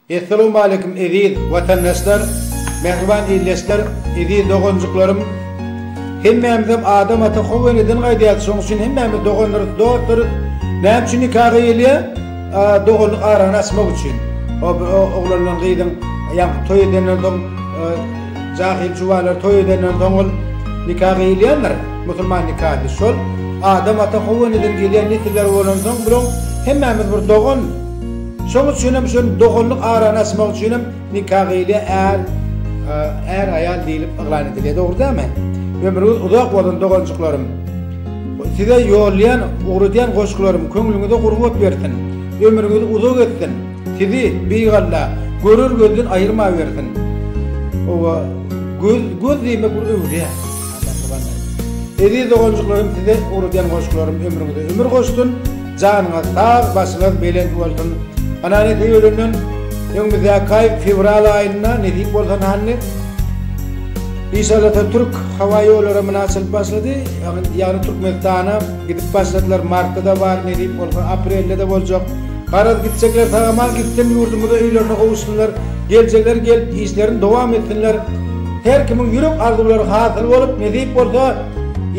Essalawmaleýkum eziz watandaşlar, mähriban ildeşler, eziz doganjyklarym. Hemmämizem Adam ata Hawa eneden gaýdýarys, şonuň üçin hemmämiz doganlarys, dostlarys. Näme üçin nika gyýylýar? Doganlyk arany açmak üçin. Oglan bilen gyzyň ýa toý edenden soň Jahil jubalar toý edenden soň ol nika gyýylýandyr, musulman nikasy. Şol Adam ata Howanydan gelýän nesiller bolansoň bulaň hemmämiz bir dogan. Şoň üçin hem şol doganlyk arany açmak üçin hem nika gyýylýar, är, är aýal diýlip yglan edilýär. Dogry dälmi? Ömrüňiz uzak bolsun doganjyklarym. Size ýollaýan, ugradýan goşgularym köňlüňize gurbat bersin. Ömrüňiz uzak etsin. Sizi, Beýik Alla, görer gözden aýyrmawersin. Oba, göz, göz diýmek bir öwre. Eziz doganjyklarym size ugradýan goşgularym ömrüňize ömür goşsun, janyňyz sag, başyňyz belent bolsun. Ana nesip edenden öňümizdäki aý fewral aýynda nesip bolsa hany Işallata türk hawa ýollary muna açylyp başlady. Ýagny Türkmenistana gidip başladylar. Martda-da bar, nesip bolsa aprelde-de boljak. Garaz gitjekler sag aman gitsin ýurdumyza öýlerine gowuşsynlar geljekler gelip işlerini dowam etsinler her kimiň ýürek arzuwlary hasyl bolup nesip bolsa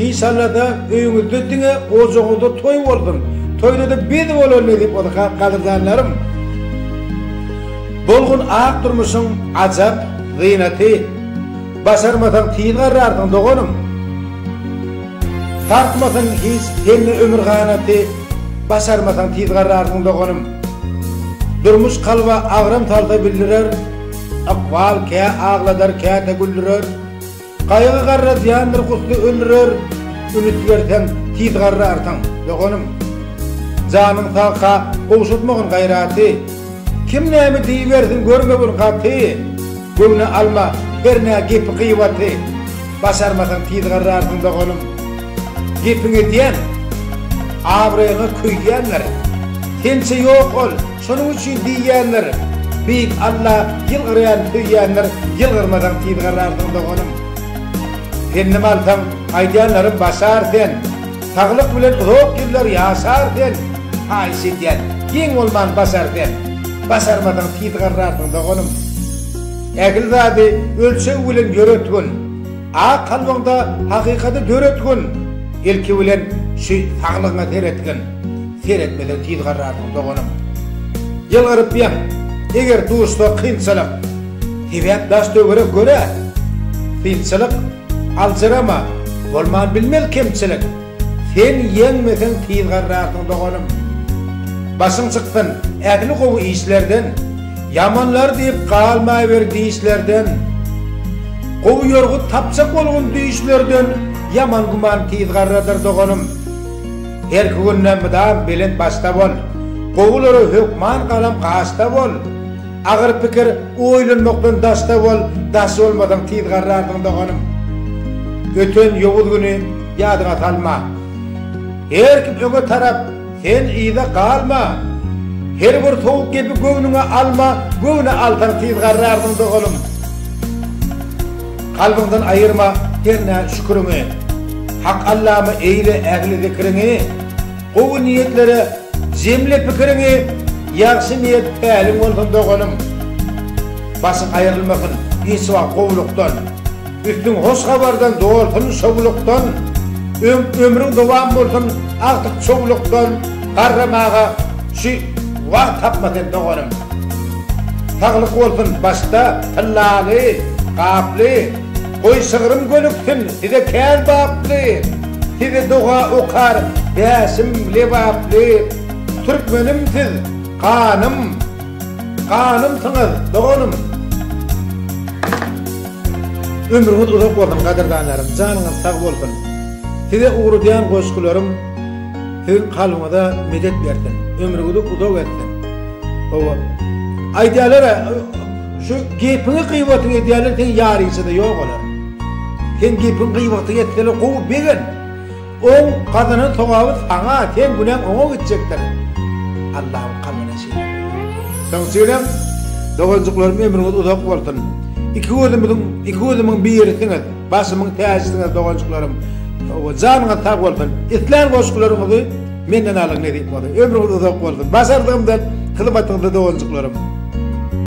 inşallada öýüňizde diňe ojagyňyzda toý bolsun toýdada biz bolan nesip bolsa gadyrdanlarym bolgun ak durmuşyň ajap zynaty başarmasaň tiz garrarsyň doganym. Sarsmasyn hiç hemme ömür ganaty Başarmasaň tiz garrarsyň doganym Durmuş kalba agram salsa bildirer Ykbal kä agladar käte güldürer Gaýgy garra zyýandyr gusly öldürer Üns berseň tiz garrarsyň doganym Janyň sag ha gowşatmagyn gaýraty Kim näme diýibersin görmegin gaty, Göwne alma her nä gepi gyýbaty, Başarmasaň tizgarrarsyň doganym. Gepiň edýän, abraýyňa köýýänler, Sençe ýok ol, şonuň üçin diýýänler, Beýik Alla ýylgyrýan söýýänler, Ýylgyrmasaň tizgarrarsyň doganym. Pendim alsaň aýdýanlarym başar sen. Saglyk bilen uzak ýyllar ýaşar sen, haýyş edýän, geň bolman basar sen. Basarmasaň tiz garrarsyň doganym. Ähli zady ölçeg bilen ýöretgin. Ak kalbyňda hakykady döretgin. Ilki bilen şu saglygyňa seretgin. Seretmeseň tiz garrarsyň doganym. Ýylgyrypýaň, eger duşsa kynçylyk. Sebäp daş-töwerek göre synçylyk, aljyrama, bolman bilmez kemçilik, Sen ýeňmeseň tiz garrarsyň doganym. Başyň çyksyn ähli gowy işlerden, Ýamanlar diýip galmaýber dişlerden. Gowy ýorgut tapjak bolgun düýşlerden, Ýaman güman tiz garradyr doganym. Herki günde mydam belent başda bol, Gowulara hökman galam gaşda bol. Agyr pikir oýlanmakdan daşda bol, daş bolmasaň tiz garrarsyň doganym. Öten ýowuz güni ýadyňa salma. Her kim öňe tarap, sen yza galma. Her bir sowuk gepi göwnüňe alma, göwne alsaň tiz garrarsyň doganym. Kalbyňdan aýyrma hernä şüküriňi, Hak Allama eýle ähli zikriňi. Gowy niýetlere jemle pikiriňi ýagşy niýet päliň bolsun doganym. Başyň aýrylmasyn hiç wagt gowlukdan, üstüň hoş habardan dolsun şowlukdan, öň ömrüň dowam bolsun agtyk çowlukdan garramaga şu wagt tapma sen doganym. Saglyk bolsun başda tyllaly, gaply. Goý şygrym gönüksin size kän baply, Sizi doga okar bäşim lebaply. Türkmenim siz ganym, ganymsyňyz doganym. Ömrüňiz uzak bolsun gadyrdanlarym, janyňyz sag bolsun. Size ugradýan goşgularym siziň kalbyňyza medet bersin, ömrüňizi uzak etsin. Hawa, aýdýalar-a, Şu gepiňi gybatyňy edýärler seň ýaryňçada ýok olar. Seň gepiň gybatyňy etseler gowy begent. Oň gazanan sogaby saňa seň günäň oňa gitjekdir. Allahym kalbyna şeýle buýurdy. Soň üçiňizem doganjyklarym ömrüňiz uzak bolsun. Iki gözümiziň iki gözümiň birisiňiz, başymyň täjisiňiz doganjyklarym. Janyňyz sag bolsun. Islän goşgularyňyzy menden alyň nesip bolsa. Ömrüňiz uzak bolsun. Başardygymdan hyzmatyňyzda doganjyklarym.